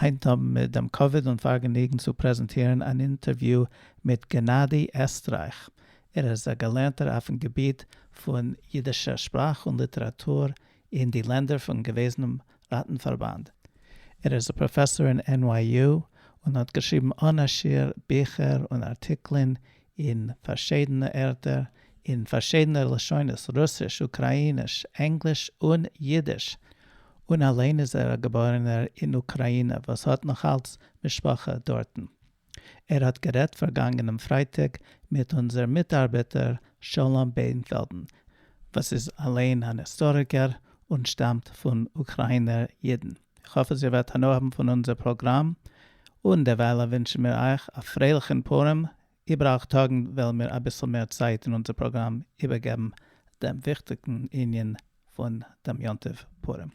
היינט האבן מיר דעם כבוד און פארגעניגן צו פרעזענטירן אן אינטערוויו מיט גענאדי עסטרייך. ער איז א געלערנטער אויפן געביט פון אידישער שפראך און ליטעראטור אין די לענדער פון געוועזענעם ראטנפארבאנד. ער איז א פראפעסאר אין NYU און האט געשריבן אן א שיעור ביכער און ארטיקלען אין פארשידענע ערטער, אין פארשידענע לשונות, רוסיש, אוקראיניש, ענגליש און אידיש, און אליין איז ער א געבוירענער אין אוקראינע וואס האט נאכאלץ משפחה דארטן. ער האט גערעדט פארגאנגענעם פרייטאג מיט אונזער מיטארבעטער שלום בענפעלדן, וואס איז אליין אן היסטאריקער און שטאמט פון אוקראינער אידן. איך האף אז איר וועט הנאה האבן פון אונזער פראגראם, און דערווייל ווינטשן מיר אייך א פרייליכן פורים, איבער אַכט טאגן וועלן מיר אביסל מער צייט אין אונזער פראגראם איבערגעבן דעם וויכטיגן ענין פון דעם יום טוב פורים.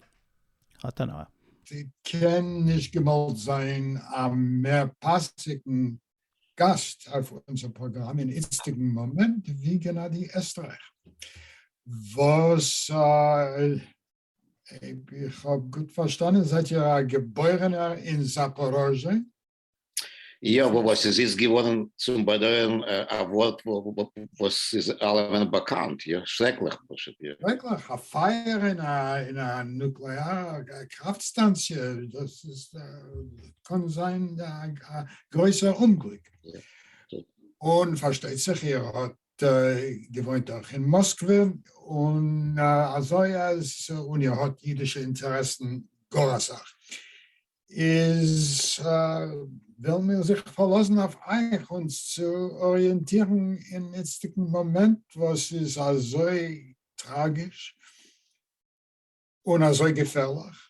האט הנאה. ס'קען נישט געוואלט זיין א מער פאסיגן גאסט אויף אונזער פראגראם אין איצטיגן מאמענט ווי גענאדי עסטרייך וואס אויב איך האב גוט פארשטאנען זייט איר א געבוירענער אין זאפאראזשע? יא, וואס איז איצט געווארן צום באדויערן א ווארט וואס איז אלעמען באקאנט, יא, שרעקליך פשוט, יא. שרעקליך, א פייער אין א נוקלעארע קראפט סטאנציע, דאס איז קען זיין א גרויסער אומגליק, און פארשטייט זיך איר האט געוואוינט דאך אין מאסקווע, און אזוי אז און איר האט אידישע אינטערעסן גאר אסאך, איז וועלן מיר זיך פארלאזן אויף אייך אונז צו אריענטירן אין איצטיגן מאמענט וואס איז אזוי טראגיש און אזוי געפערליך.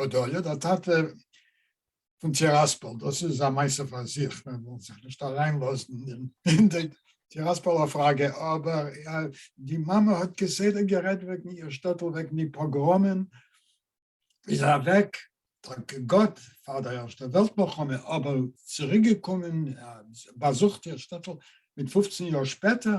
בדויה, דער טאטע פון טיראספאל, דאס איז א מעשה פאר זיך, מען זאל זיך נישט אריינלאזן אין די טיראספאלער פראגע, אבער די מאמע האט כסדר גערעדט וועגן איר שטעטל, וועגן די פאגראמען, איז אוועק, דאנק גאט פאר די ערשטע וועלט מלחמה, אבער צוריקגעקומען, באזוכט איר שטעטל מיט פופצן יאר שפעטער,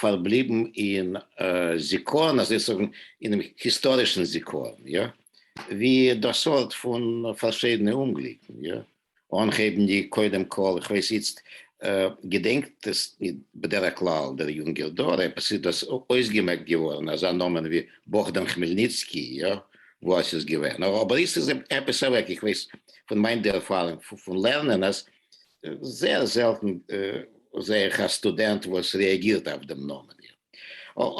פארבליבן אין זיכרון, אזוי צו זאגן, אינעם היסטארישן זיכרון, יא, ווי דער סארט פון פארשידענע אומגליקן, יא, אנהייבנדיג קודם כל, איך ווייס איצט, געדענקט עס בדרך כלל דער יונגער דור, עפעס איז דאס אויסגעמעקט געווארן, אזא נאמען ווי באכדעם כמעלניצקי, יא, וואו עס איז געווען, אבער איצט איז עפעס אוועק, איך ווייס פון מיין ערפארונג פון לערנען עס, זייער זעלטן זעה איך א סטודענט וואס רעאגירט אויף דעם נאמען איר,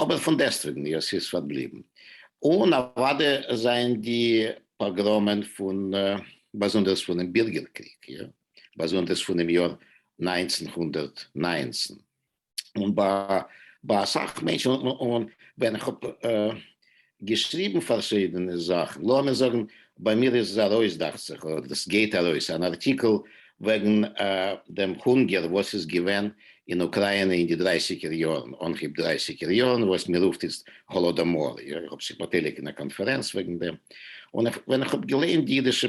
אבער פון דעסטוועגן איר ס'איז פארבליבן. און אוואדע זענען די פאגראמען פון, באזונדערס פונעם בירגער קריג, איר, באזונדערס פונעם יאר נײַנצן הונדערט נײַנצן, און ביי אסאך מענטשן, און ווען איך האב געשריבן פארשידענע זאכן, לאמיר זאגן ביי מיר איז עס ארויס דאכט זיך, אדער עס גייט ארויס, אן ארטיקל וועגן דעם הונגער וואס איז געווען אין אוקראינע אין די דרייסיגער יארן, אנהייב דרייסיגער יארן, וואס מען רופט איצט האלאדאמאר, איך האב זיך באטייליגט אין א קאנפערענץ וועגן דעם, און ווען איך האב געליינט די אידישע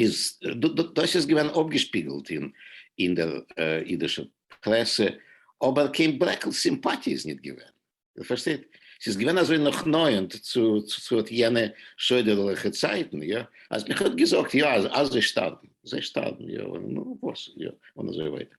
איז דאס איז געווען אפגעשפיגלט אין אין דער אידישע פרעסע, אבער קיין ברעקל סימפאטיע איז ניט געווען. איר פארשטייט? ס'איז געווען אזוי נאכנאענט צו צו אט יענע שוידערליכע צייטן, יא, אז מען האט געזאגט, יא, אז זיי שטארבן, זיי שטארבן, יא, און נו, וואס, יא, און אזוי ווייטער.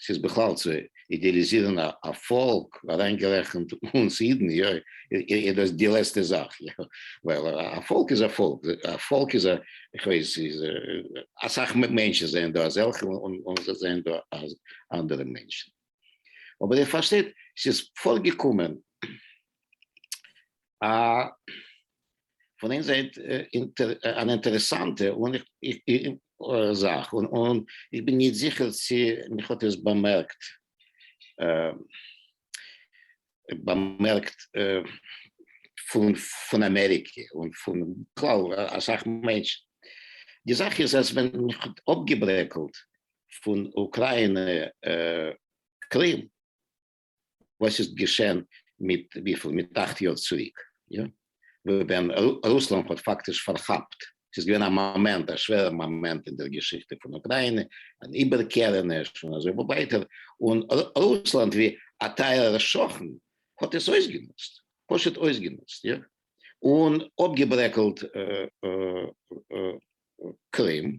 ס'איז בכלל צו אידעליזירן א פאלק, אריינגערעכנט אונז אידן, איז דאס די לעצטע זאך, ווייל א פאלק איז א פאלק, א פאלק איז א, איך ווייס, אסאך מענטשן זענען דא אזעלכע און זענען דא אנדערע מענטשן, אבער איר פארשטייט, ס'איז פארגעקומען א פון איין זייט אן אינטערעסאנטע זאך, און איך בין נישט זיכער צי מיך האט עס באמערקט באמערקט פון אמעריקע און פון בכלל אסאך מענטשן, די זאך איז אז ווען מען האט אפגעברעקלט פון אוקריינע קרים, וואס איז געשען מיט וויפיל מיט אכט יאר צוריק יא ווען רוסלאנד האט פאקטיש פארכאפט ס'איז געווען א מאמענט א שווערע מאמענט אין דער געשיכטע פון אוקריינע אן איבערקערעניש און אזוי ווייטער און רוסלאנד ווי א טייערער שכן האט עס אויסגענוצט פשוט אויסגענוצט יא און אפגעברעקלט קרים.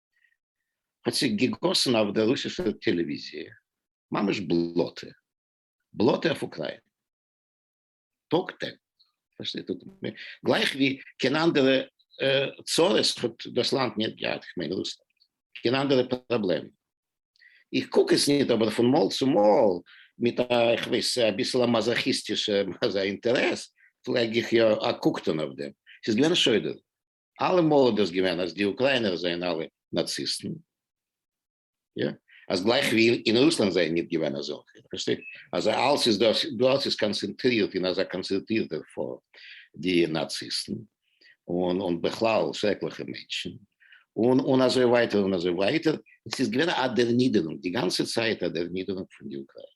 האט זיך געגאסן אויף דער רוסישער טעלעוויזיע ממש בלאטע, בלאטע אויף אוקריינע, טאג טעג, גלייך ווי קיין אנדערע צרות האט דאס לאנד ניט געהאט, איך מיין רוסלאנד, קיין אנדערע פראבלעמען. איך קוק עס ניט, אבער פון מאל צו מאל, מיט א, איך ווייס, א ביסל א מאזאכיסטישע אינטערעס, פלעג איך יא א קוק טאן אויף דעם. ס'איז געווען שוידערליך. אלעמאל איז דאס געווען אז די אוקריינער זענען אלע נאציסטן, יא, אז גלייך ווי אין רוסלאנד זענען נישט געווען אזעלכע, פארשטייט, אז אלס איז דאס דאס איז קאנצענטרירט אין אזא קאנצערטירטע פארט די נאציסטן, און און בכלל שרעקליכע מענטשן, און און אזוי ווייטער און אזוי ווייטער, עס איז געווען א דערנידערונג, די גאנצע צייט א דערנידערונג פון די אוקריינער.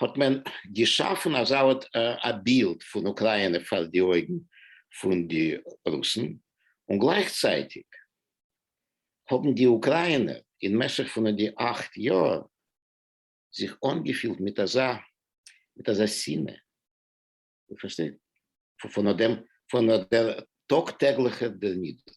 האט מען געשאפן אזא ארט א בילד פון אוקריינע פאר די אויגן פון די רוסן, און גלייכצייטיג האבן די אוקריינער אין משך פון די אכט יאר זיך אנגעפילט מיט אזא מיט אזא שנאה פארשטייט פון דעם פון דער טאג טעגליכער דערנידערונג.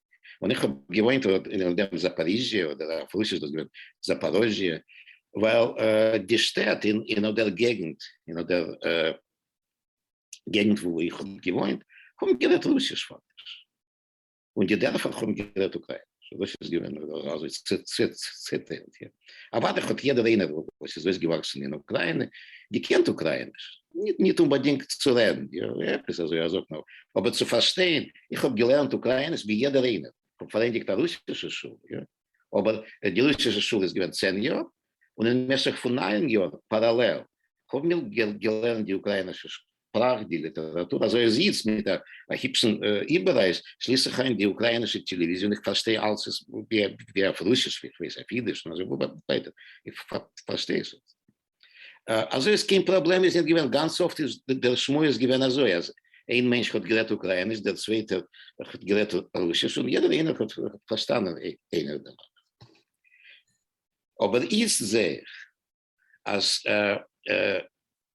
און איך האב געוואוינט און דעם זאפאריזשיא אדער אויף רוסיש איז דאס געווען זאפאראזשיא, ווייל די שטעט אין אדער געגענט אין אדער געגענט וואו איך האב געוואוינט האבן גערעדט רוסיש פאקטיש, און די דערפער האבן גערעדט אוקריינעש, דאס איז געווען אזוי צוטיילט. אוודאי האט יעדער איינער וואס איז אויסגעוואקסן אין אוקריינע געקענט אוקרייניש, ניט אומבאדינגט צו רעדן, יא, עפעס אזוי א זאך נאר, אבער צו פארשטיין, איך האב געלערנט אוקרייניש ווי יעדער איינער, איך האב פארענדיגט א רוסישע שול, יא, אבער די רוסישע שול איז געווען צען יאר, און אין משך פון ניין יאר פאראלעל האבן מיר געלערנט די אוקריינישע פראכט די ליטעראטור, אזוי אז איצט מיט א היפשן איבעררייס שליס איך איין די אוקריינישע טעלעוויזיע און איך פארשטיי אלס עס ווי אויף רוסיש ווי איך ווייס אויף אידיש און אזוי ווייטער איך פארשטיי עס אזוי אז קיין פראבלעם איז ניט געווען, גאנץ אפט איז דער שמועס געווען אזוי אז איין מענטש האט גערעדט אוקרייניש דער צווייטער האט גערעדט רוסיש און יעדער איינער האט פארשטאנען איינער דעם אנדערן אבער איצט זע איך אז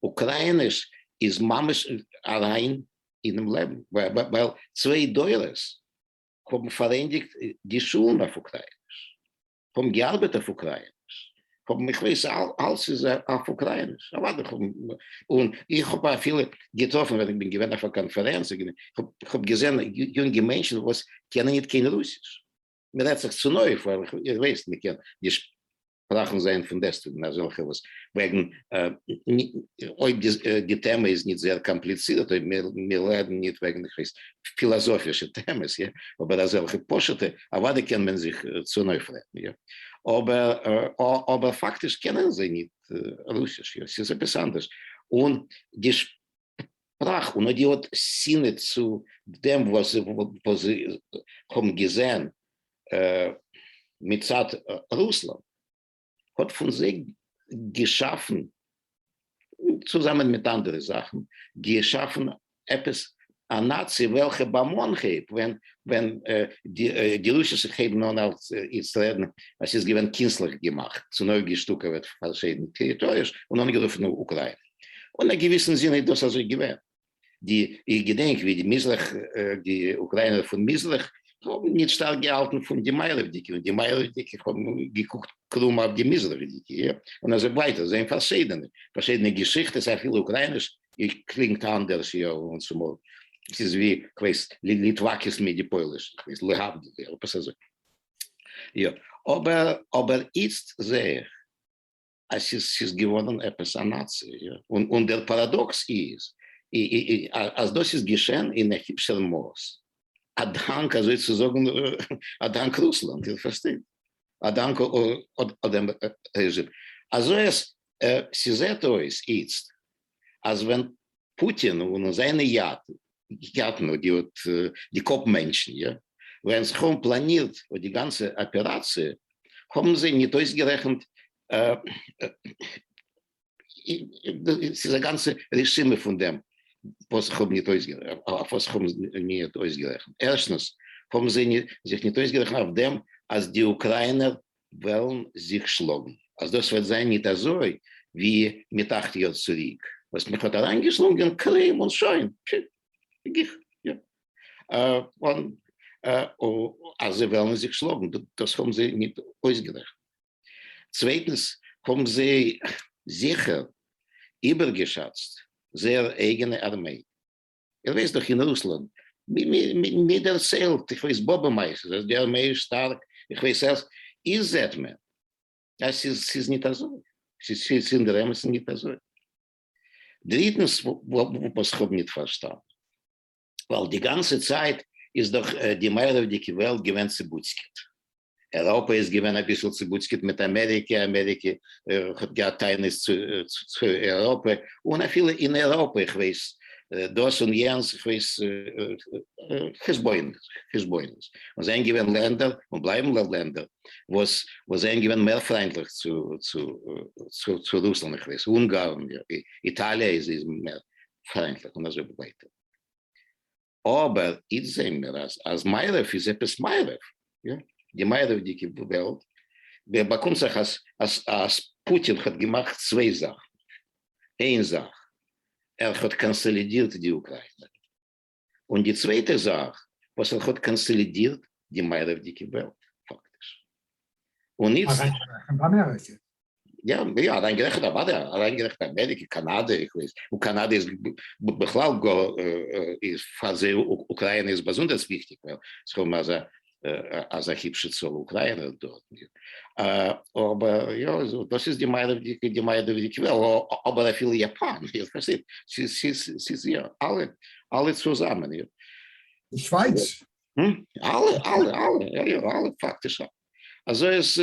אוקריינערס איז ממש אריין אינעם לעבן, ווייל צוויי דורות האבן פארענדיגט די שולן אויף אוקריינערס, האבן געארבעט אויף אוקריינערס, האבן איך ווייס אלס איז אויף אוקריינערס, אוודאי האבן, און איך האב אפילו געטראפן ווען איך בין געווען אויף א קאנפערענץ, איך האב געזען יונגע מענטשן וואס קענען ניט קיין רוסיש, מען רעדט זיך צונויף ווייל איך ווייס מען קען נישט פראכן זיין פון דעסטוועגן אזעלכע וואס וועגן אויב די טעמע איז נישט זייער קאמפליצירט אויב מיר רעדן נישט וועגן איך ווייס פילאזאפישע טעמעס יא אבער אזעלכע פשוטע אוודאי קען מען זיך צונויף רעדן יא אבער אבער פאקטיש קענען זיי נישט רוסיש יא ס'איז עפעס אנדערש און די פראך, און אויב איר האט שנאה צו דעם וואס זיי האבן געזען מצד רוסלאנד האט פון זיי געשאפן, צוזאמען מיט אנדערע זאכן, געשאפן עפעס א נאצי וועלכע באמאן כעת ווען די רוסס הייבן אן אלס איצט רעדן אז ס'איז געווען קינסטליך געמאכט, צונויפגעשטוקעוועט פארשידענע טעריטאריעס און אנגערופן אוקריינע. און א געוויסן זין איז דאס אזוי געווען. די איך געדענק ווי די מזרח די אוקריינער פון מזרח האבן נישט שטארק געהאלטן פון די מערב'דיגע און די מערב'דיגע האבן געקוקט קרום אויף די מזרח'דיגע און אזוי ווייטער זענען פארשידענע פארשידענע געשיכטעס אפילו אוקריינע'ס קלינגט אנדערש יא און צומאל ס'איז ווי כ'ווייס ליטוואקעס מיט די פויליש כ'ווייס להבדיל יא עפעס אזוי יא אבער אבער איצט זעה איך אז ס'איז ס'איז געווארן עפעס א נאצי, און דער פאראדאקס איז אז דאס איז געשען אין א היפשער מאס א דאנק אזוי צו זאגן א דאנק רוסלאנד, איר פארשטייט, א דאנק דעם רעזשים. אזוי אז ס'זעט אויס איצט אז ווען פוטין און זיינע אייאטן און די קאפ מענטשן יא ווען זיך האבן פלאנירט אט די גאנצע אפעראציע האבן זיי ניט אויסגערעכנט ס'איז א גאנצע רשימה פון דעם וואס זיך האבן ניט אויף וואס זיך האבן ניט אויסגערעכנט ערשטנס האבן זיי זיך ניט אויסגערעכנט אויף דעם אז די אוקריינער וועלן זיך שלאגן, אז דאס וועט זיין ניט אזוי ווי מיט אכט יאר צוריק, וואס מיך האט אריינגעשלונגען קרעם און שוין, פששש, גיך, יא, און אז זיי וועלן זיך שלאגן, דאס האבן זיי ניט אויסגערעכנט. צווייטנס, האבן זיי זיכער איבערגעשאצט זייער אייגענע ארמיי. איך ווייס דאך אין רוסלאנד, מיר דערציילט, איך ווייס באבע מייז איז עס געווען מער שטארק, איך ווייס עלס, איר זעט מען אז ס'איז ניט אזוי, ס'איז אינדערעמעסן ניט אזוי. דריטנס, וואס כ'האב ניט פארשטאנען, ווייל די גאנצע צייט איז דאך די מערב'דיגע וועלט געווען צעבוצקעט, אייראפע איז געווען אביסל צובוצקעט מיט אמעריקע, אמעריקע האט געהאט טענות צו אייראפע, און אפילו אין אייראפע איך ווייס דאס און יענס, איך ווייס חשבונות, חשבונות, און זענען געווען לענדער און בלייבן לענדער וואס זענען געווען מער פריינטליך צו רוסלאנד, איך ווייס אונגארן, איטאליע איז מער פריינטליך און אזוי ווייטער. אבער איצט זעהן מיר אז אז מערב איז עפעס מערב, יא, די מערב'דיגע וועלט, ווען באקומט זיך אז אז אז פוטין האט געמאכט צוויי זאכן, איין זאך ער האט קאנסאלידירט די אוקריינע, און די צווייטע זאך וואס ער האט קאנסאלידירט די מערב'דיגע וועלט פאקטיש, און איצט. אריינשטעכן ביי אמעריקע. יא, יא, אריינגערעכנט אוודאי, אריינגערעכנט אמעריקע, קאנאדע, איך ווייס, און קאנאדע איז בכלל גאר, איז פאר זיי אוקריינע איז באזונדערס וויכטיג, ווייל זיי האבן אזא אזא היבשע צאל אוקריינער דארט, אבער יא, דאס איז די מערב'דיגע, די מערב'דיגע וועלט, אבער אפילו יאפאן, איר פארשטייט, ס'איז יא, אלע, אלע צוזאמען, יא. די שווייץ. אלע, אלע, אלע, יא, יא, אלע פאקטיש, אזוי איז.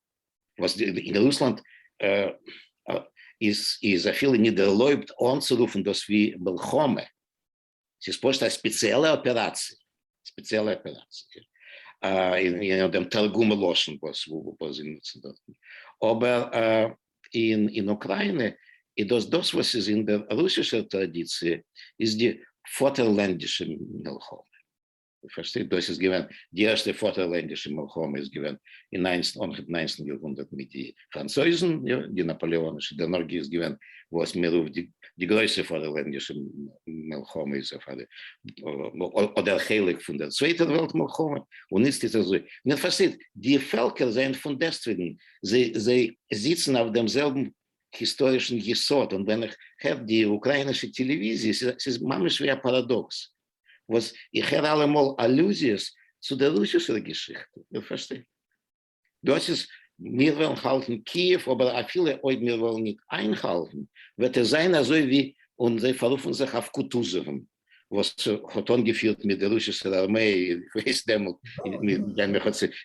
וואס אין רוסלאנד איז אפילו נישט ערלויבט אנצורופן דאס ווי מלחמה, ס'איז פשוט א ספעציעלע אפעראציע, ספעציעלע אפעראציע, און דעם תרגום הלשון וואס זיי נוצן דארטן, אבער אין אוקריינע איז דאס דאס וואס איז אין דער רוסישער טראדיציע איז די פאטערלענדישע מלחמה. פארשטייט דאס איז געווען די ערשטע פאטערלענדישע מלחמה איז געווען אין ניינצן אנהייב ניינצן יארהונדערט מיט די פראנצויזן יא די נאפאלעאנישע דערנאך איז געווען וואס מען רופט די די גרויסע פאטערלענדישע מלחמה איז אויף א אדער חלק פון דער צווייטער וועלט מלחמה און איצט איז אזוי מען פארשטייט די פעלקער זענען פון דעסטוועגן זיי זיי זיצן אויף דעם זעלבן היסטארישן יסוד און ווען איך הער די אוקריינישע טעלעוויזיע ס'איז ממש ווי א פאראדאקס וואס איך הער אלעמאל אלוזיעס צו דער רוסישער געשיכטע, איר פארשטייט? דאס איז, מיר וועלן האלטן קיעוו, אבער אפילו אויב מיר וועלן ניט איינהאלטן, וועט עס זיין אזוי ווי, און זיי פארופן זיך אויף קוטוזעוון, וואס האט אנגעפירט מיט דער רוסישער ארמיי, איך ווייס דעמאלט ניט,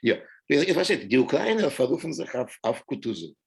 יא, איר פארשטייט, די אוקריינער פארופן זיך אויף קוטוזעוון.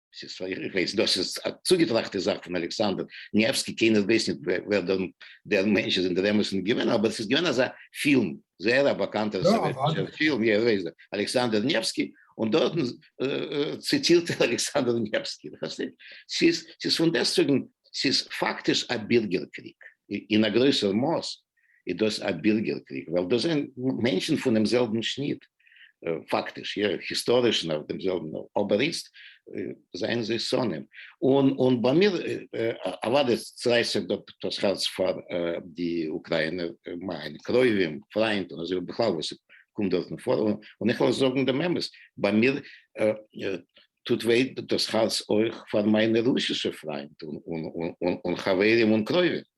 ס'איז פאר איך ווייס דאס איז א צוגעטראכטע זאך פון אלכסנדר ניעווסקי קיינער ווייסט נישט ווער דער מענטש איז אינדערוועמעס נישט געווען אבער ס'איז געווען אזא פילם זייער א באקאנטער סאוועטישער פילם יא ווייסט דער אלכסנדר ניעווסקי און דארטן ציטירט ער אלכסנדר ניעווסקי פארשטייט ס'איז ס'איז פון דעסטוועגן ס'איז פאקטיש א בירגער קריג אין א גרויסער מאס איז דאס א בירגער קריג ווייל דאס זענען מענטשן פונעם זעלבן שניט, פאקטיש יא היסטאריש נאך דעם זעלבן אבער איצט זענען זיי שונאים און און ביי מיר אוודאי צערייסט זיך דאס הארץ פאר די אוקריינער מיינע קרובים פריינט און אזוי ובכלל וואס קומט דארטן פאר און איך וועל זאגן דעם אמת ביי מיר טוט וויי דאס הארץ אויך פאר מיינע רוסישע פריינט און חברים און קרובים.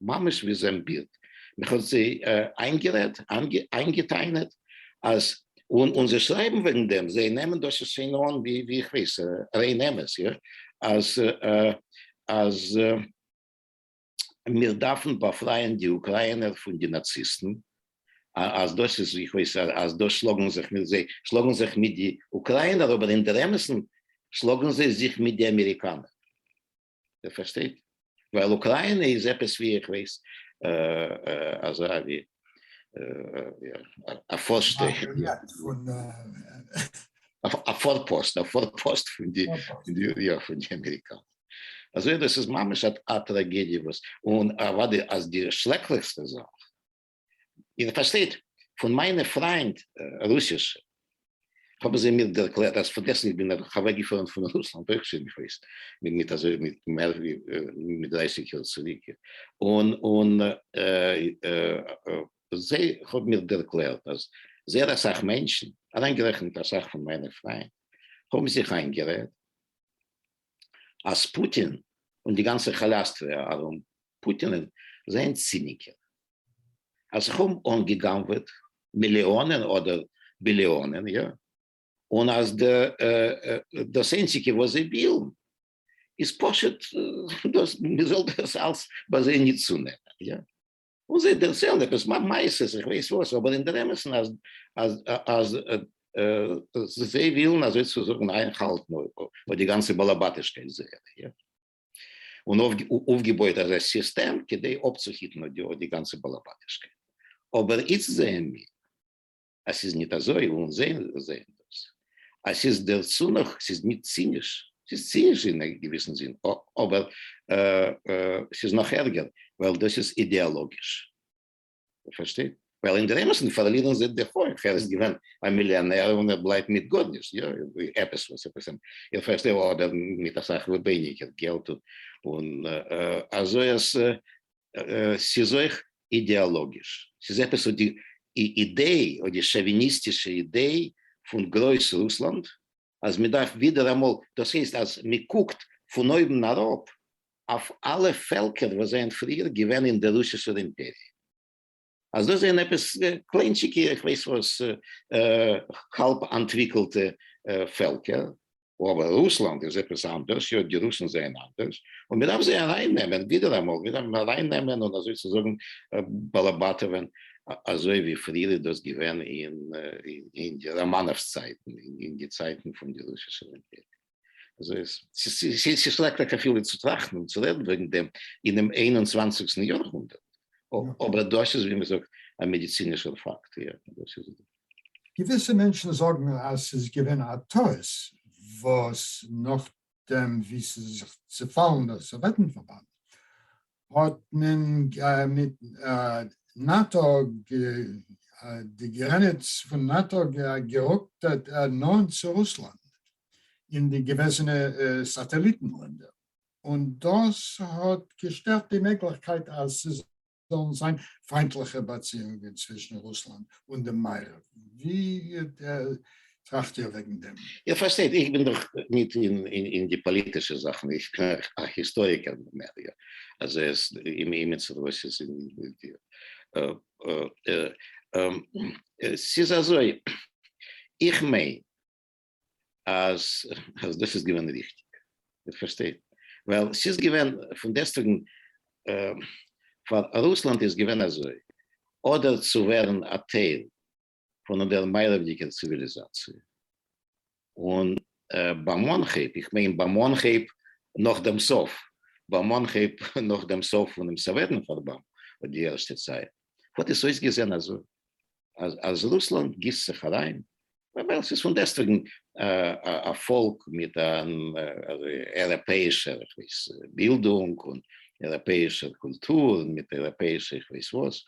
ממש ווי זיין בילד, מען האט זיי איינגערעדט, איינגעטענה'ט, אז און און זיי שרייבן וועגן דעם, זיי נעמען דאס שוין אן ווי ווי איך ווייס, ריין אמת, יא, אז אז מיר דארפן באפרייען די אוקריינער פון די נאציסטן, אז דאס איז ווי איך ווייס, אז דאס שלאגן זיך מיט זיי, שלאגן זיך מיט די אוקריינער, אבער אינדערעמעסן שלאגן זיי זיך מיט די אמעריקאנער. ער פארשטייט ווייל אוקריינע איז עפעס ווי איך ווייס אזא ווי א פארשט א פארפאסט א פארפאסט פון די יא פון די אמעריקאנע אזוי דאס איז ממש א טראגעדיע וואס און אוודאי אז די שלעקליכסטע זאך איר פארשטייט, פון מיינע פריינד רוסישע האבן זיי מיר ערקלערט אז פארגעסן איך בין אוועקגעפארן פון רוסלאנד אויך שוין ביפאר איז מיט אזוי מיט מער ווי מיט דרייסיג יאר צוריק און און זיי האבן מיר ערקלערט אז זייער אסאך מענטשן אריינגערעכנט אסאך פון מיינע פריינד האבן זיך איינגערעדט אז פוטין און די גאנצע כאלאסטריא ארום פוטינען זענען ציניקער אז זיך האבן אנגעגנב'עט מיליאנען אדער ביליאנען יא און אז דאס איינציגע וואס זיי ווילן איז פשוט דאס מען זאל דאס אלס ביי זיי נישט צונעמען יא און זיי דערציילן עפעס מעשה'ס איך ווייס וואס אבער אינדערעמעסן אז אז אז זיי ווילן אזוי צו זאגן איינהאלטן אויף די גאנצע באלעבאטישקייט זייערע יא. און אויפגעבויעט אזא סיסטעם כדי אפצוהיטן אט די גאנצע באלעבאטישקייט, אבער איצט זעען מיר אז ס'איז ניט אזוי, און אונז זעען דאס אז ס'איז דערצו נאך, ס'איז ניט ציניש, ס'איז ציניש אין א געוויסן זין, אבער ס'איז נאך ערגער, ווייל דאס איז אידעאלאגיש. פארשטייט? ווייל אין דער אמת'ן פארלירן זיי די הויך, ער איז געווען א מיליאנער און ער בלייבט מיט גארנישט, יא, עפעס וואס עפעס, איך פארשטיי, אדער מיט אסאך ווייניגער געלט, און אזוי אז ס'איז אויך אידעאלאגיש, ס'איז עפעס וואס די אידעי, אדער שוביניסטישע אידעי פון גרויס רוסלאנד, אז מען דארף ווידעראמאל, דאס הייסט אז מען קוקט פון אויבן אראפ אויף אלע פעלקער וואס זענען פריער געווען אין דער רוסישער אימפעריע, אז דאס זענען עפעס קליינטשיגע איך ווייס וואס האלב אנטוויקלטע פעלקער, אבער רוסלאנד איז עפעס אנדערש, יא די רוסן זענען אנדערש, און מען דארף זיי ארייננעמען ווידעראמאל, ווידעראמאל ארייננעמען און אזוי צו זאגן באלעבאטעווען אזוי ווי פריער איז דאס געווען אין די ראמאנאווס צייטן, אין די צייטן פון די רוסישע אימפעריע. ס'איז שרעקליך אפילו צו טראכטן און צו רעדן וועגן דעם אינעם איין און צוואנציגסטן יאר הונדערט, אבער דאס איז ווי מ'זאגט א מעדיצינישער פאקט. געוויסע מענטשן זאגן אז ס'איז געווען א טעות וואס נאכדעם ווי ס'איז זיך צעפאלן דער סאוועטן פארבאנד האט מען מיט נאטא, די גרעניץ פון נאטא גערוקט נאנט צו רוסלאנד און די געוועזענע סאטעליטן לענדער, און דאס האט געשטערט די מעגליכקייט אז ס'זאלן זיין פיינטליכע באציאונגען צווישן רוסלאנד און דעם מערב, ווי טראכט איר וועגן דעם? איר פארשטייט, איך בין דאך ניט אין די פאליטישע זאכן, איך בין א היסטאריקער מער יא, אז עס אין אימיצער וואס איז ס'איז אזוי, איך מיין אז אז דאס איז געווען ריכטיג, איר פארשטייט, ווייל ס'איז געווען פון דעסטוועגן פאר רוסלאנד איז געווען אזוי, אדער צו ווערן א טייל פון דער מערבדיקער ציוויליזאציע, און ביי מאנכעפ, איך מיין ביי מאנכעפ נאך דעם סוף, ביי מאנכעפ נאך דעם סוף פונעם סאוועטן פארבאנד, אויף די ערשטע צייט, האט עס אויסגעזען אזוי, אז אז רוסלאנד גיסט זיך אריין, ווייל ס'איז פון דעסטוועגן א פאלק מיט אן אייראפעאישער, איך ווייס, בילדונג, און אייראפעישער קולטור און מיט אייראפעישע איך ווייס וואס,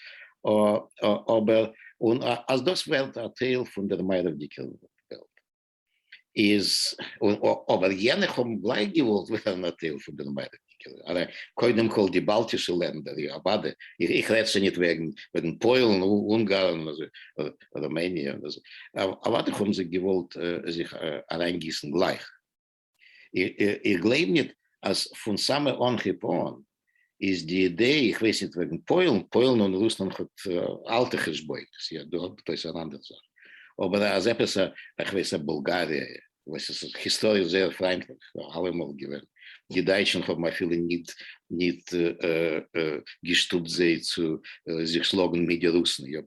אבער און אז דאס ווערט א טייל פון דער מערבדיקער וועלט איז, אבער יענע האבן גלייך געוואלט ווערן א טייל פון דער מערבדיקער, ארא קודם כל די באלטישע לענדער, יא אוודאי, איך רעד שוין ניט וועגן פוילן, אונגארן, רומעניע, אוודאי האבן זיי געוואלט זיך אריינגיסן גלייך. איך גלייב ניט אַז פֿון סאַמע אָנהייב אָן איז די אידעע, איך ווייס ניט וועגן פּוילן, פּוילן און רוסלאַנד האָט אַלטע חשבונות, ס'איז דאָ עפּעס אַן אַנדער זאַך, אָבער אַז עפּעס אַ, איך ווייס, אַ בולגאַריע, וואָס איז היסטאָריש זייער פֿריינטלעך אַלע מאָל געווען, די דײַטשן האָבן אַפֿילו ניט, ניט געשטופּט זיי צו זיך שלאָגן מיט די רוסן, יאָ,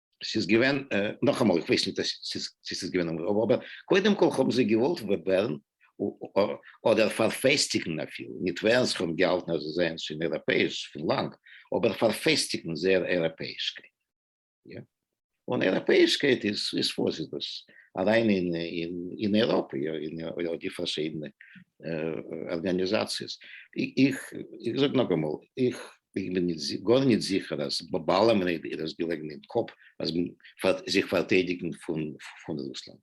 ס'איז געווען, נאכאמאל איך ווייס נישט צו ס'איז געווען און רוב אבער קודם כל האבן זיי געוואלט ווערן אדער פארפעסטיגן אפילו, נישט ווערן זיך האבן געהאלטן אז זיי זענען שוין אייראפעיש פון לאנג, אבער פארפעסטיגן זייער אייראפעישקייט, יא, און אייראפעישקייט איז איז וואס איז דאס? אריין אין אין אייראפע יא, אין די פארשידענע ארגאניזאציעס, איך זאג נאכאמאל איך איך בין גאר ניט זיכער אז ביי אלעמען איז דאס געלעגן אין קאפ אז מען פארט זיך פארטיידיגן פון רוסלאנד.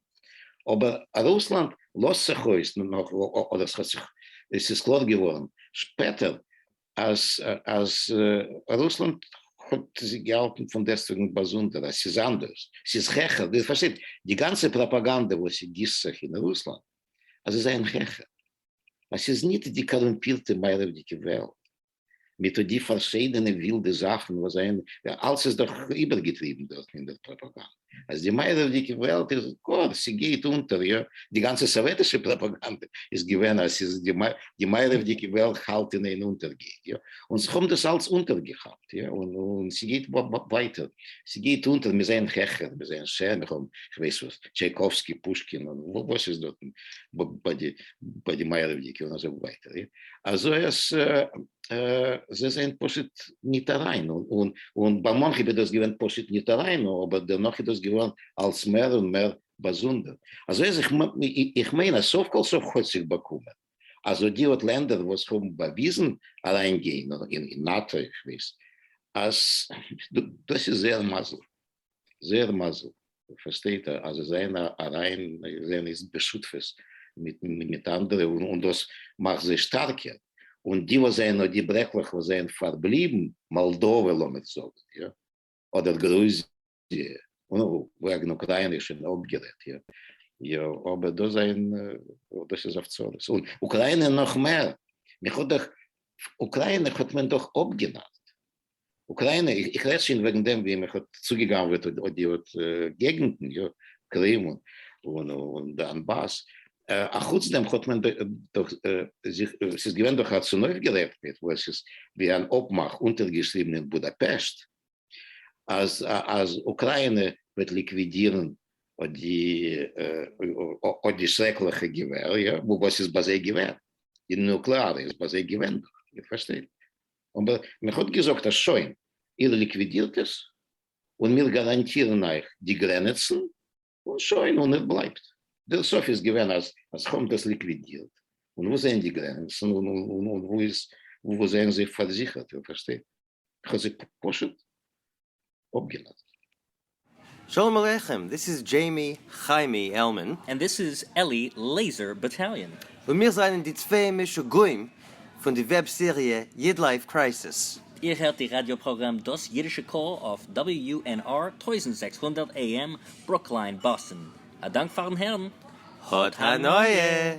אבער אז רוסלאנד לאזט זיך אויס נאך אדער עס האט זיך עס איז קלאר געווארן שפעטער אז אז רוסלאנד האט זיך געהאלטן פון דעסטוועגן באזונדער אז עס איז אנדערש עס איז העכער איר פארשטייט די גאנצע פראפאגאנדע וואס עס גיסט זיך אין רוסלאנד אז זיי זענען העכער אז עס איז ניט די קארומפירטע מערב'דיגע וועלט מיט די פארשיידענע ווילדע זאכן וואס זיי האבן, אלס איז דאך איבערגעטריבן דארטן אין דער פראפאגאנדע, אז די מערב'דיגע וועלט איז גאר, ס'גייט אונטער, יא, די גאנצע סאוועטישע פראפאגאנדע איז געווען אז ס'איז די מערב'דיגע וועלט האלט אין איין אונטערגיין, יא, און זיך האבן דאס אלס אונטערגעכאפט, יא, און ס'גייט ווייטער, ס'גייט אונטער, מיר זעען העכער, מיר זעען שענער, מיר האבן כ'ווייס וואס, טשייקאווסקי, פושקין, און וואס איז דארטן ביי די מערב'דיגע און אזוי ווייטער, יא. אזוי אז זיי זענען פשוט ניט אריין, און ביי מאנכע איז דאס געווען פשוט ניט אריין, אבער דערנאך איז דאס געווארן אלס מער און מער באזונדער, אזוי אז איך מיין אז סוף כל סוף האט זיך באקומען אז אט די אט לענדער וואס האבן באוויזן אריינגיין אין נאטא, איך ווייס אז דאס איז זייער מזל. זייער מזל פארשטייט ער אז זיי זענען אריין זענען איז בשותפות מיט אנדערע און דאס מאכט זיי שטארקער, און די וואס זענען די ברעקלעך וואס זענען פארבליבן, מאלדאווע לאמיר זאגן יא, אדער גרוזיע, וועגן אוקריינע איז שוין אפגערעדט יא, יא אבער דאס זענען דאס איז אויף צרות, און אוקריינע נאך מער, מען האט דאך אוקריינע האט מען דאך אפגענארט, אוקריינע, איך רעד שוין וועגן דעם ווי מען האט צוגעגנבעט אט די אט געגנטן, יא, קרים און דאנבאס, א חוץ דעם האט מען דאך זיך, עס איז געווען דאך א צונויפגערעכנטקייט וואס עס איז ווי אן אפמאך אונטערגעשריבן אין בודאפעשט אז אז אוקריינע וועט ליקווידירן אט די אט די שרעקליכע געווער, יא, וואס איז ביי זיי געווען, די נוקלעארע איז ביי זיי געווען דאך, איר פארשטייט, אבער מען האט געזאגט אז שוין, איר ליקווידירט עס, און מיר גאראנטירן אייך די גרענעצן, און שוין, און ער בלייבט. דער סוף איז געווען אז אז כאמט האט ליקווידירט, און וואו זעען די גרענעצן, און און און וואו איז, וואו זעען זיי פארזיכערט, איר פארשטייט? איך האב זיי פשוט אפגעלאזט. שלום עליכם, דיס איז דזשעימי חיימי עלמאן. ענד דיס איז עלי לעיזער באטאליאן. און מיר זענען די צוויי משוגעים פון די וועב סעריע איד לייף קרייסיס. איר הערט די ראדיא פראגראם דאס אידישע קול אויף WUNR טויזנט זעקס הונדערט AM ברוקלין באסטן. א דאנק פארן הערן. האט הנאה!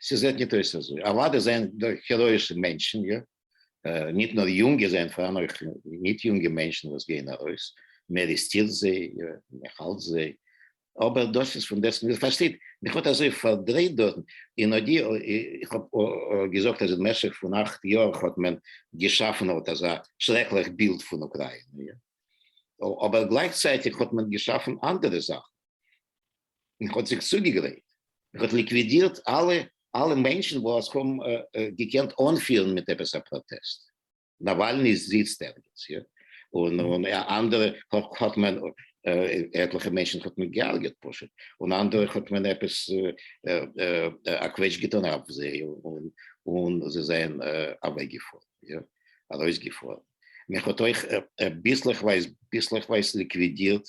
ס'זעט ניט אויס אַזוי. אַוודאי זענען דאָ העראָישע מענטשן, יאָ, ניט נאָר יונגע, זענען פאַראַן אויך ניט-יונגע מענטשן, וואָס גייען אַרויס, מען אַרעסטירט זיי, יאָ, מען האַלט זיי, אָבער דאָס איז פון דעסט, איר פאַרשטייט, מיך האָט אַזוי פאַרדרייט דאָרטן, און אָט די, איך האָב געזאָגט, אַז אין משך פון אַכט יאָר האָט מען געשאַפן אָט אַזאַ שרעקלעך בילד פון אוקראַיִנע, יאָ, אָבער גלייכצייטיג האָט מען געשאַפן אַנדערע זאַכן. און האט זיך צוגעגרייט, און האט ליקווידירט אלע אלע מענטשן וואס האבן געקענט אנפירן מיט עפעס א פראטעסט, נאוואלני זיצט ערגעץ יא, און און אנדערע האט מען עטליכע מענטשן האט מען געהארגעט פשוט, און אנדערע האט מען עפעס א קוועטש געטון אויף זיי און און זיי זענען אוועק געפארן יא, ארויס געפארן, מען האט אויך ביסלעכווייז ביסלעכווייז ליקווידירט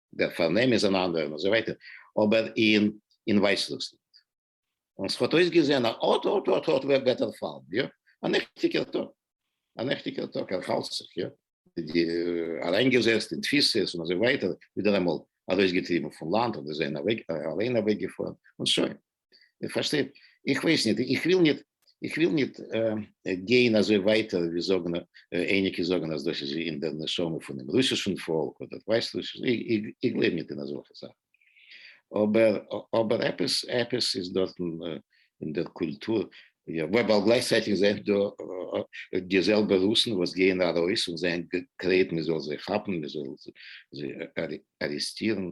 דער פארנעם איז אן אנדערע און אזוי ווייטער, אבער אין אין ווייסרוסלאנד. און ס'האט אויסגעזען א אט אט אט אט וועט ער פאלן, יא, א נעכטיגער טאג, א נעכטיגער טאג, ער האלט זיך, יא, די אריינגעזעצט אין תפיסות און אזוי ווייטער, ווידעראמאל ארויסגעטריבן פון לאנד, אדער זיי זענען אליין אוועקגעפארן, און שוין. איר פארשטייט? איך ווייס ניט, איך וויל ניט, איך וויל ניט גיין אזוי ווייטער ווי זאגן, אייניקע זאגן אז דאס איז אין דער נשמה פונעם רוסישן פאלק, אדער ווייסט וואס, איך גלייב ניט אין אזעלכע זאכן. אבער, אבער עפעס, עפעס איז דארטן אין דער קולטור, ווייל גלייכצייטיג זענען דא די זעלבע רוסן וואס גייען ארויס און זענען גרייט מען זאל זיי כאפן, מען זאל זיי ארעסטירן,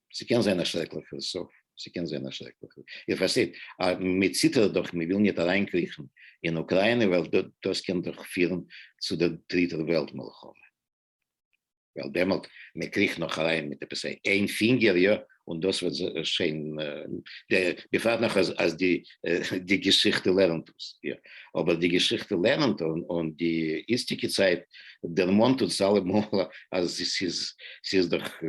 ס'קען זיין א שרעקליכע סוף, ס'קען זיין א שרעקליכע, איר פארשטייט אז מ'ציטערט דאך, מ'וויל ניט אריינקריכן אין אוקריינע ווייל דאס קען דאך פירן צו דער דריטער וועלט מלחמה, ווייל דעמאלט מ'קריכט נאך אריין מיט עפעס איין פינגער, יא, און דאס וועט זיך שוין, בפרט נאך אז די די געשיכטע לערנט אונז יא, אבער די געשיכטע לערנט און די איצטיגע צייט דערמאנט אונז אלעמאל אז ס'איז דאך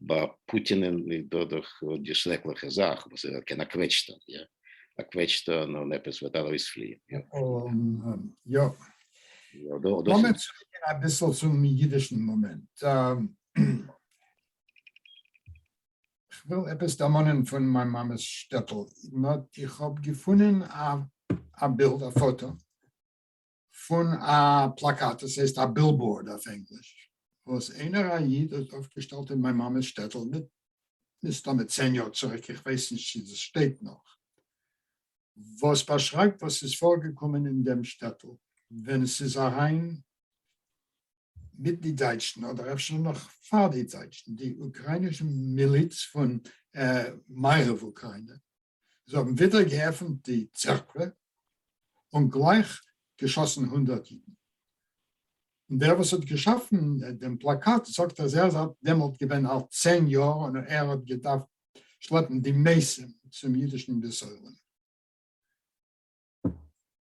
ביי פוטין דא דאך די שרעקליכע זאך וואס ער קען א קוועטש טאן יא, א קוועטש טאן און עפעס וועט ארויספליען יא. יא. לאמיר צוריקגיין אביסל צום אידישן מאמענט. כ'וויל עפעס דערמאנען פון מיין מאמע'ס שטעטל, נאט איך האב געפונען א בילד, א פאטא, פון א פלאקאט, דאס הייסט א בילבאורד אויף ענגליש, וואס איינער א איד האט אויפגעשטעלט אין מיין מאמע'ס שטעטל, מסתמא צען יאר צוריק, איך ווייס נישט צו דאס שטייט נאך, וואס באשרייבט וואס ס'איז פארגעקומען אין דעם שטעטל ווען ס'איז אריין מיט די דייטשן אדער אפשר נאך פאר די דייטשן, די אוקריינישע מיליץ פון מערב אוקריינע, זיי האבן ווידער געעפנט די צערקווע און גלייך געשאסן הונדערט אידן, און דער וואס האט געשאפן דעם פלאקאט זאגט אז ער איז אלט דעמאלט געווען אלט צען יאר און ער האט געדארפט שלעפן די מעשים צום אידישן בית עולם.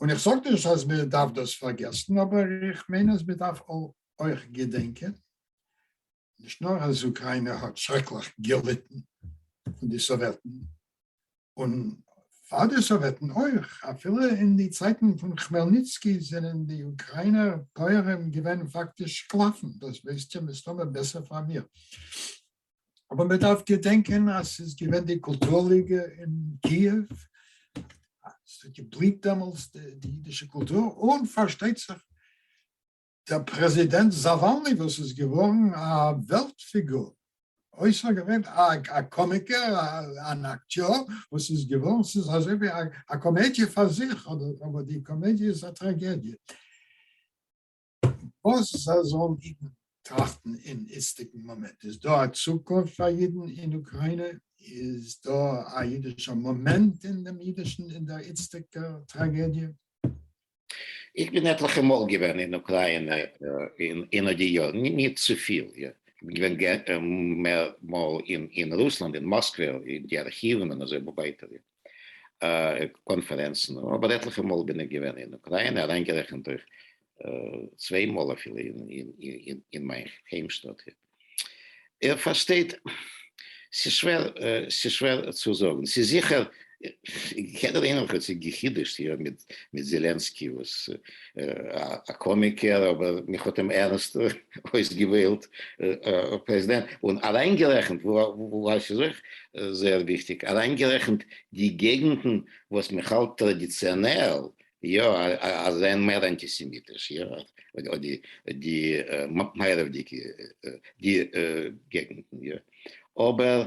און איך זאג נישט אז מען דארף דאס פארגעסן, אבער איך מיין אז מען דארף אויך געדענקען נישט נאר אז אוקריינע האט שרעקליך געליטן פון די סאוועטן, און פאר די סאוועטן אויך, אפילו אין די צייטן פון כמעלניצקי זענען די אוקריינער פויערים געווען פאקטיש שקלאפן, דאס ווייסט איר מסתמא בעסער פאר מיר. אבער מען דארף געדענקען אז ס'איז געווען די קולטור ליגע אין קיעוו, ס'האט געבליהט דעמאלטס די אידישע קולטור, און פארשטייט זיך דער פרעזידענט זאוואלני וואס איז געווארן א וועלט פיגור, אויסערגעווענליך א קאמיקער, אן אקטיאר וואס איז געווארן, ס'איז אזוי ווי א קאמעדיע פאר זיך, אבער די קאמעדיע איז א טראגעדיע. וואס זאלן אידן טראכטן אין איצטיגן מאמענט? איז דא א צוקונפט פאר אידן אין אוקריינע? איז דא א אידישער מאמענט אין דעם אידישן אין דער איצטיגער טראגעדיע? איך בין עטליכע מאל געווען אין אוקריינע אין די יארן, נישט צופיל, יא. איך בין געווען מער מאל אין רוסלאנד, אין מאסקווע, אין די ארכיוון און אזוי ווייטער. קאנפערענצן, אבער עטליכע מאל בין איך געווען אין אוקריינע, אריינגערעכנט אויך צוויי מאל אפילו אין מיין היימשטאט הי. איר פארשטייט, ס'איז שווער, ס'איז שווער צו זאגן. ס'איז זיכער, יעדער איינער האט זיך גע'חידוש'ט מיט זעלענסקי וואס. א קאמיקער אבער מיך האט אים ערנסט אויסגעוועלט פרעזידענט און אריינגערעכנט ווייל ס'איז אויך זייער וויכטיג אריינגערעכנט די געגנטן וואס מען האלט טראדיציאנעל יא אז זענען מער אנטיסעמיטיש יא אדער די מערב'דיגע געגנטן יא אבער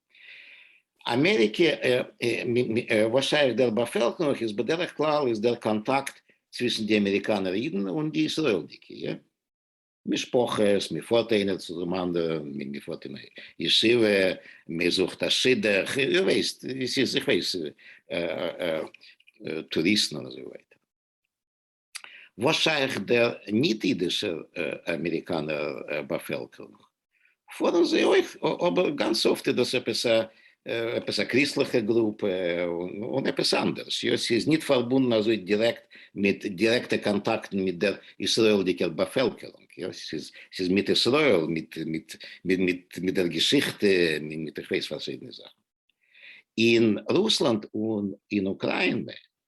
אמעריקע וואס שייך דער באפעלקערונג איז בדרך כלל איז דער קאנטאקט צווישן די אמעריקאנער אידן און די ישראל'דיגע משפחות, מען פארט איינער צו דעם אנדערן, מען פארט אין ישיבה, מען זוכט א שידוך, איר ווייסט ווי ס'איז, איך ווייס טוריסטן און אזוי ווייטער. וואס שייך דער ניט אידישער אמעריקאנער באפעלקערונג? פארן זיי אויך, אבער גאנץ אפט איז דאס עפעס א עפעס א קריסטליכע גרופע און עפעס אנדערש, יא ס'איז ניט פארבונדן אזוי דירעקט מיט דירעקטע קאנטאקטן מיט דער ישראלדיקער באפעלקערונג, יא ס'איז מיט ישראל מיט מיט מיט דער געשיכטע מיט איך ווייס פארשידענע זאכן אין רוסלאנד און אין אוקריינע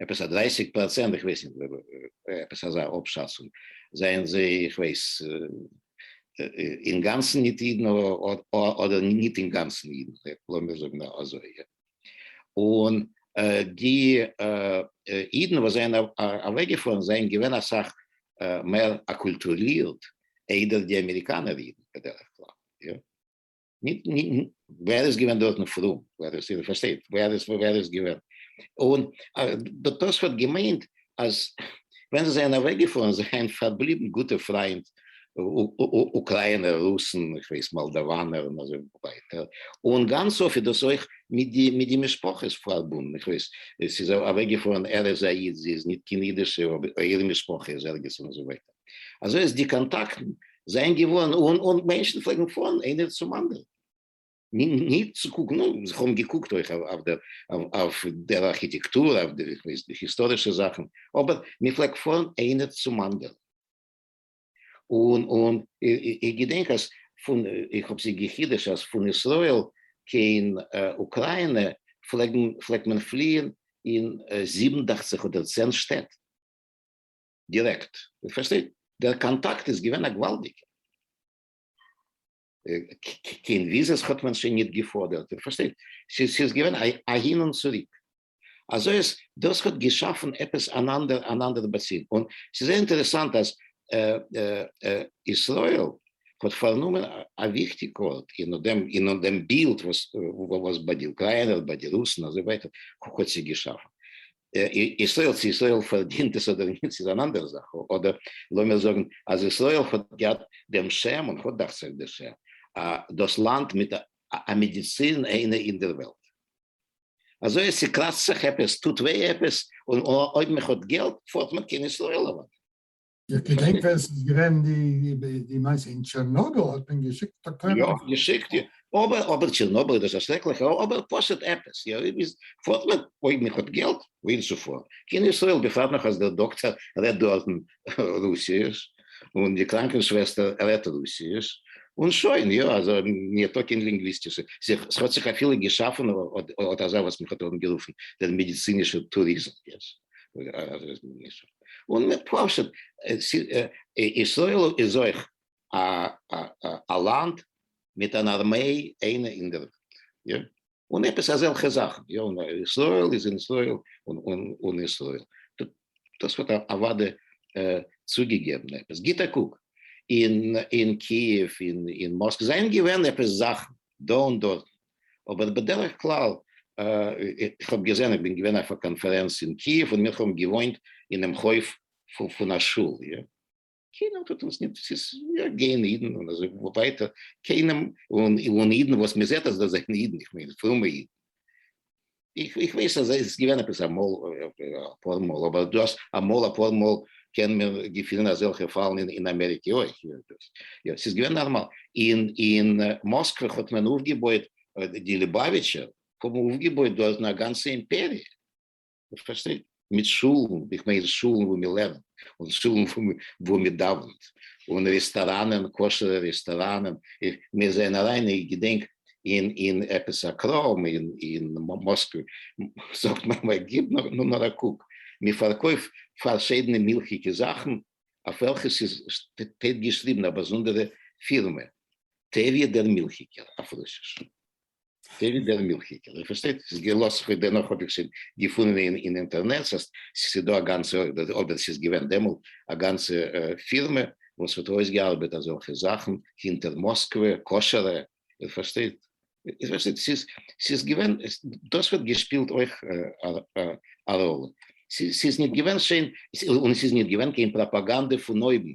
עפעס א דרייסיג פראצענט, איך ווייס נישט, עפעס אזא אפשאצונג, זענען זיי איך ווייס אינגאנצן ניט אידן אדער ניט אינגאנצן אידן, לאמיר זאגן אזוי, יא? און די אידן וואס זענען אוועקגעפארן זענען געווען אסאך מער אקולטורירט איידער די אמעריקאנער אידן בדרך כלל, יא? ניט, ניט, װער איז געװען דאָרטן פֿרום? װער איז, איר פֿאַרשטײט, װער איז, װער איז געװען? און ד תּוספֿות האָט געמײנט, אַז װען זײ זײַנען אַװעקגעפֿאָרן, זײַנען פֿאַרבליבן גוטע פֿרײַנד, אוקראַיִנער, רוסן, איך װײס, מאָלדאַװאַנער און אַזױ װײַטער. און גאַנץ אָפֿט איז דאָס אױך מיט די, מיט די משפּחות פֿאַרבונדן. איך װײס, עס איז אַװעקגעפֿאָרן, ער איז אַ ייִד, זי איז ניט קײן ייִדישע, אָבער איר משפּחה איז ערגעץ און אַזױ װײַטער. אזוי אז די קאנטאקטן זענען געווארן אן און מענטשן פלעגן פארן איינער צום אנדערן נישט צו קוקן אויב זיי האבן געקוקט אויך אויף דער ארכיטעקטור אויף די היסטארישע זאכן אבער מען פלעגט פארן איינער צום אנדערן און און איך געדענק אז פון איך האב זיך גע'חידוש'ט אז פון ישראל קיין אוקריינע פלעגן פלעגט מען פליען אין זיבן דאכציך אדער צען שטעט. דירעקט, איר פארשטייט? דער קאנטאקט איז געווען א געוואלדיגע. קיין וויזעס האט מען שוין ניט געפאדערט, איר פארשטייט? ס'איז געווען אהין און צוריק. אזוי אז דאס האט געשאפן עפעס אן אנדער אן אנדער באצוג. און ס'איז זייער אינטערעסאנט אז ישראל האט פארנומען א וויכטיגע ארט אין דעם אין דעם בילד וואס וואס ביי די אוקריינער, ביי די רוסן, אזוי ווייטער, האט זיך געשאפן. ישראל צו ישראל פארדינט עס אדער נישט איז אן אנדערע זאך, אדער לאמיר זאגן אז ישראל האט געהאט דעם שם און האט דאכט זיך די שם דאס לאנד מיט א מעדיצין איינע אין דער וועלט, אזוי אז ס'קראצט זיך עפעס, טוט וויי עפעס, און אויב מ'האט געלט פארט מען קיין ישראל אוודאי. איך געדענק ווען ס'איז געווען די מעשה אין טשערנאביל האט מען געשיקט דאקטוירים. יא, געשיקט יא. אבער אבער טשערנאביל איז א שרעקליכע ארט, אבער פשוט עפעס יא איז פארט מען אויב מען האט געלט וואוהין צו פארן. קיין ישראל בפרט נאך אז דער דאקטער רעדט דארט רוסיש און די קראנקן שוועסטער רעדט רוסיש און שוין יא אזוי מיר טאקינג לינגוויסטיש ס'האט זיך אפילו געשאפן אט אזא וואס מען האט אנגערופן דער מעדיצינישער טוריזם. און מיט פשוט ישראל איז אויך א לאנד מיט אן ארמיי איינע אין דער וועלט און עפעס אזעלכע זאכן יא און ישראל איז אין ישראל און ישראל דאס האט אוודאי צוגעגעבן עפעס גיט א קוק אין קיעוו אין מאסק זענען געווען עפעס זאכן דא און דארטן אבער בדרך כלל איך האב געזען איך בין געווען אויף א קאנפערענץ אין קיעוו און מיר האבן געוואוינט אינעם חוף פון א שול יא, קיינער טוט אונז נישט ס'איז יא גייען אידן און אזוי ווייטער, קיינעם און אידן וואס מ'זעט אז זיי זענען אידן איך מיין פרומע אידן איך ווייס אז עס איז געווען עפעס אמאל אפאר מאל, אבער דו האסט אמאל אפאר מאל קען מען געפינען אזעלכע פאלן אין אמעריקע אויך, יא ס'איז געווען נארמאל, אין מאסקווע האט מען אויפגעבויעט, די ליבאוויטשער האבן אויפגעבויעט דארטן א גאנצע אימפעריע, פארשטייט. מיט שולן, איך מיין שולן וואו מען לערנט, און שולן וואו מען דאווענט, און רעסטאראנען, כשר'ע רעסטאראנען, מיר זענען אריין איך געדענק אין עפעס א קראם אין מאסקווע, זאגט מיין ווייב גיב נאר א קוק, מען פארקויפט פארשידענע מילכיגע זאכן אויף וועלכע ס'איז שטייט געשריבן א באזונדערע פירמע, טעריע דער מילכיגער אויף רוסיש. אזוי ווי דער מילכיגער, איר פארשטייט? ס'איז געלאזט כ'האב דערנאך האב איך שוין געפונען אין אין אינטערנעט אז ס'איז דא א גאנצע אדער ס'איז געווען דעמאלט א גאנצע פירמע וואס האט אויסגעארבעט אזעלכע זאכן הינטער מאסקווע, כשר'ע, איר פארשטייט? איר פארשטייט? ס'איז ס'איז געווען דאס האט געשפילט אויך א ראלע. ס'איז ניט געווען שיין און ס'איז ניט געווען קיין פראפאגאנדע פון אויבן.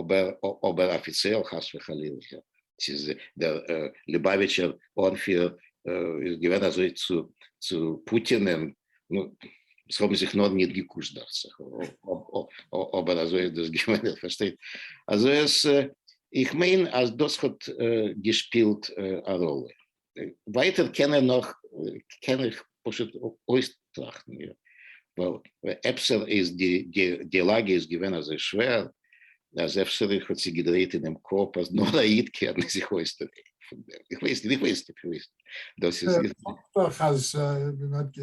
אבער אבער אפיציעל חס וחלילה ס'איז דער ליבאוויטשער אנפירער איז געווען אזוי צו צו פוטינען עס האבן זיך נאר ניט געקושט דאכט זיך אבער אזוי איז דאס געווען איר פארשטייט אזוי איך מיין אז דאס האט געשפילט א ראלע. ווייטער קען ער נאך קען איך פשוט אויסטראכטן מיר ווייל אפשר איז די די לאגע איז געווען אזוי שווער אז אפשר איך האט זיך געדרייט אינעם קאפ אז נאר א איד קען זיך אויסדרייען פון דעם, איך ווייס נישט, איך ווייס נישט, איך ווייס נישט, דאס איז איך זאג דאך אז ווען מען האט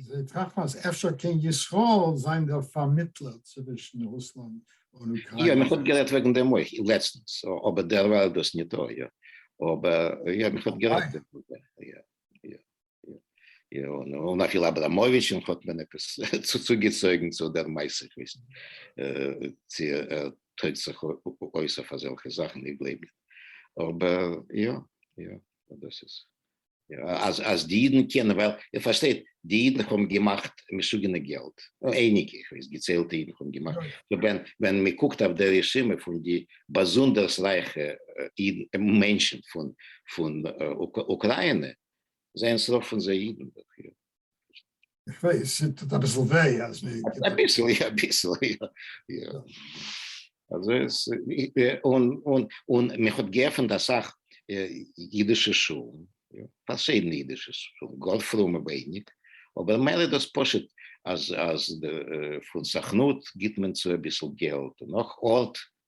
געטראכט אז אפשר קען ישראל זיין דער פארמיטלער צווישן רוסלאנד יא, מען האט גערעדט וועגן דעם אויך לעצטנס, אבער דערווייל איז דאס ניטא, יא, אבער יא, מען האט גערעדט, יא, יא, יא, און אפילו אבראמאוויטש'ן האט מען עפעס צוגעצויגן צו דער מעשה, איך ווייס נישט צו ער טויגט זיך אויס אויף אזעלכע זאכן, איך גלייב נישט, אבער יא, יא, דאס איז אז אז די אידן קענען ווייל איר פארשטייט די אידן האבן געמאכט משוגענע געלט אייניגע איך ווייס געציילטע אידן האבן געמאכט סאו ווען ווען מען קוקט אויף די רשימה פון די באזונדערס רייכע אידן מענטשן פון פון אוקריינע זענען ס'רוב פון זיי אידן. איך ווייס, ס'טוט אביסל וויי אז מ. אביסל, יא, אביסל, יא, יא. אזוי איז, און, און, און מ'האט געעפענט אסאך אידישע שולן, פארשידענע אידישע שולן, גאר פרומע ווייניג, אבער מער איז דאס פשוט אז, אז פון סוכנות גיבט מען צו אביסל געלט, נאך ארט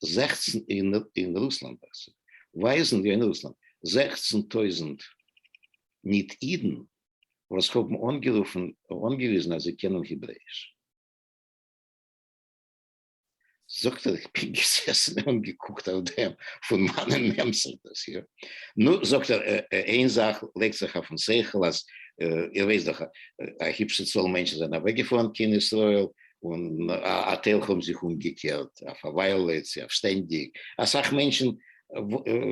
זעכצן אין רוסלאנד ווייזן ווי אין רוסלאנד זעכצן טויזנט ניט אידן וואס האבן אנגערופן אנגעוויזן אז זיי קענען היברעיש. זאגט ער איך בין געזעסן און געקוקט אויף דעם פון מיינע נעמסער דאס יאר. נו זאגט ער איין זאך לייגט זיך אויפן שכל אז איר ווייסט דאך א היפשע צאל מענטשן זענען אוועקגעפארן קיין ישראל און א טייל האבן זיך אומגעקערט אויף א וויילע צו אויף שטענדיג, אסאך מענטשן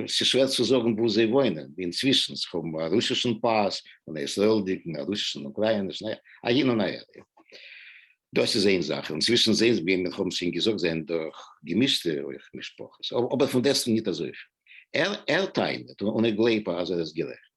ס'איז שווער צו זאגן וואו זיי וואוינען אינצווישן, זיך האבן א רוסישן פאס און א ישראל'דיגן, א רוסישן און אוקראינישן, א אהין און אהער, יא דאס איז איין זאך, אינצווישן זעהן ווי מיר האבן שוין געזאגט זענען דא אויך געמישטע אויך משפחות, אבער פון דעסטן ניט אזויפיל, ער טענה'ט און איך גלייב אז ער איז גערעכט.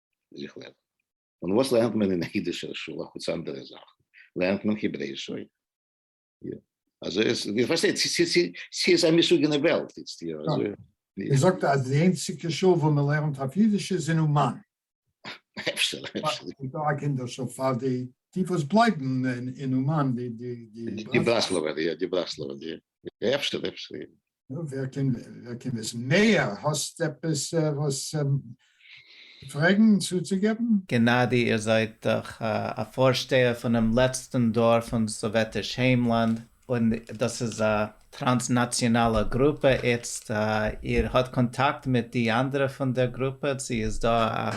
זיך לערנען. און וואס לערנט מען אין אידישער שול אחוץ אנדערע זאכן? לערנט מען העברעיש אויך. יא. אזוי איז, איר פארשטייט, ס'איז ס'איז ס'איז א משוגענע וועלט איצט, יא, אזוי. איר זאגט אז די איינציגע שול וואו מען לערנט אויף אידיש איז אין אומאן. אפשר, אפשר. איז דא א קינדער שול פאר די די וואס בלייבן אין אומאן, די די די. די ברסלב'ער, יא, די ברסלב'ער, יא. אפשר, אפשר. נו, ווער קען, ווער קען וויסן מעהר? האסט עפעס וואס צו פרעגן, צוצוגעבן? גענאדי, איר זייט דאך א פארשטייער פונעם לעצטן דור פון סאוועטיש היימלאנד, און דאס איז א טראנסנאציאנאלע גרופע איצט, איר האט קאנטאקט מיט די אנדערע פון דער גרופע, צו איז דא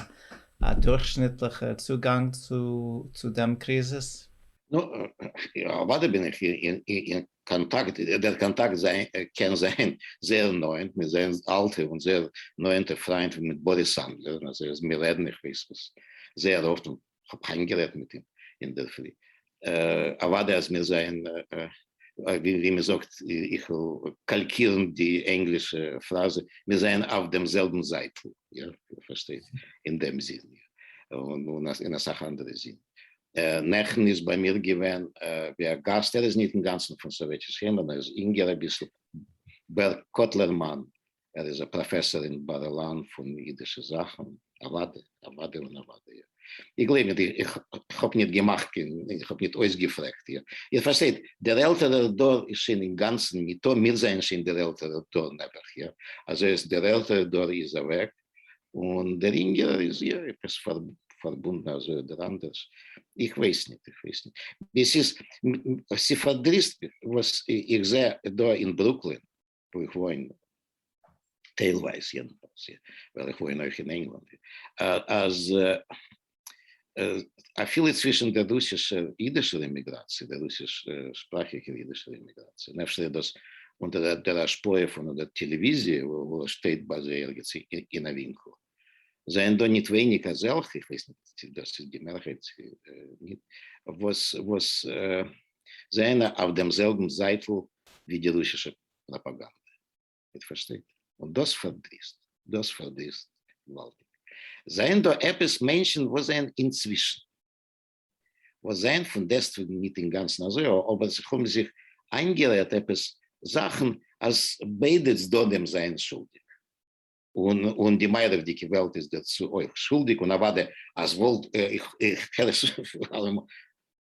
א דורכשניטליכער צוגאנג צו דעם קריזיס? נו, יא, אוודאי בין איך קאנטאקט, דער קאנטאקט קען זיין זייער נאענט, מיר זענען אלטע און זייער נאענטע פריינט ווי מיט באריס סאנדלער, אזוי אז מיר רעדן איך ווייס וואס זייער אפט, און כ'האב היינט גערעדט מיט אים אינדערפרי, אוודאי אז מיר זעען ווי מ'זאגט, איך וויל קאלקירן די ענגלישע פראזע, מיר זעען אויף דעם זעלבן זייטל, איר פארשטייט, אין דעם זין, און אין אסאך אנדערע זינען. נעכטן איז ביי מיר געווען ווי א גאסט, ער איז ניט אינגאנצן פון סאוועטיש יונגען, ער איז אינגער אביסל, בער קאטלערמאן, ער איז א פראפעסאר אין בר אילן פון אידישע זאכן, אוואדע, אוואדע און אוואדע, איר גלייבט ניט, איך האב ניט געמאכט קיין, איך האב ניט אויסגעפרעגט, איר פארשטייט, דער עלטערער דור איז שוין אינגאנצן ניטא, מיר זענען שוין דער עלטערער דור נעבעך, איר, אזוי אז דער עלטערער דור איז אוועק, און דער אינגערער איז יא עפעס פארבונדן אזוי אדער אנדערש, איך ווייס ניט, איך ווייס ניט, דאס איז, ס'פארדריסט מיך וואס איך זע דא אין ברוקלין וואו איך וואוין, טיילווייז יעדנפאלס, ווייל איך וואוין אויך אין ענגלאנד, אז. אפילו צווישן דער רוסישער אידישער אימיגראציע, דער רוסיש שפראכיגער אידישער אימיגראציע, און אפשר איז דאס אונטער דער השפעה פון דער טעלעוויזיע וואס שטייט ביי זיי ערגעץ אין א ווינקל, זענען דא ניט ווייניק אזעלכע, איך ווייס ניט צי דאס איז די מערהייט צי ניט, וואס וואס זענען אויף דעם זעלבן זייטל ווי די רוסישע פראפאגאנדע. איר פארשטייט? און דאס פארדריסט, דאס פארדריסט געוואלדיג. זענען דא עפעס מענטשן וואס זענען אינצווישן, וואס זענען פון דעסטוועגן ניט אינגאנצן אזוי, אבער זיך האבן זיך איינגערעדט עפעס זאכן אז ביידע צדדים זענען שולדיג, און און די מערב'דיגע וועלט איז דערצו אויך שולדיג, און אוודאי אז וואלט איך הער עס אלעמאל.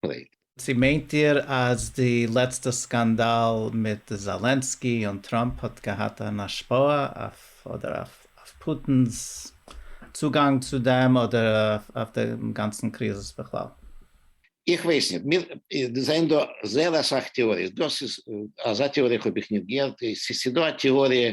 פלעיט. צו מיינט איר אז די לעצטע סקאנדאל מיט זאלענסקי און טראמפ האט געהאט אן השפעה אויף אדער אויף פוטין'ס צוגאנג צו דעם אדער אויף דעם גאנצן קריזיס בכלל? איך ווייס נישט, מיר זענען דא זייער אסאך טעאריעס, דאס איז אזא טעאריע האב איך נישט געהערט, ס'איז דא א טעאריע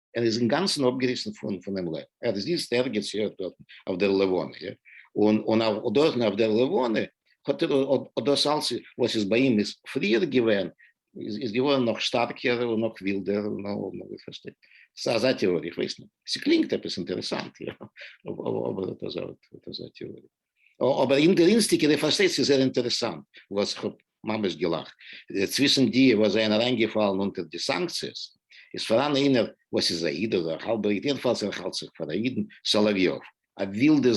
ער איז אינגאנצן אפגעריסן פונעם לעבן, ער איז איצט ערגעץ יו ט דארטן אויף דער לבנה, יא, און דארטן אויף דער לבנה האט ער, האט דאס אלץ וואס איז ביי אים איז פריער געווען, איז געווארן נאך שטארקער און נאך ווילדער, איר פארשטייט? ס'איז אזא טעאריע, איך ווייס נישט, ס'קלינגט עפעס אינטערעסאנט, יא, אבער אט אזא טעאריע. אבער אינדערנסטיגע די פארשטייסט ס'איז זייער אינטערעסאנט וואס איך האב ממש געלאכט צווישן די וואס זענען אריינגעפאלן אונטער די סאנקציעס איז פאראן איינער וואס איז א איד אדער האלבע איד יעדנפאלס ער האלט זיך פאר א אידן סאלאוויאוו א ווילדע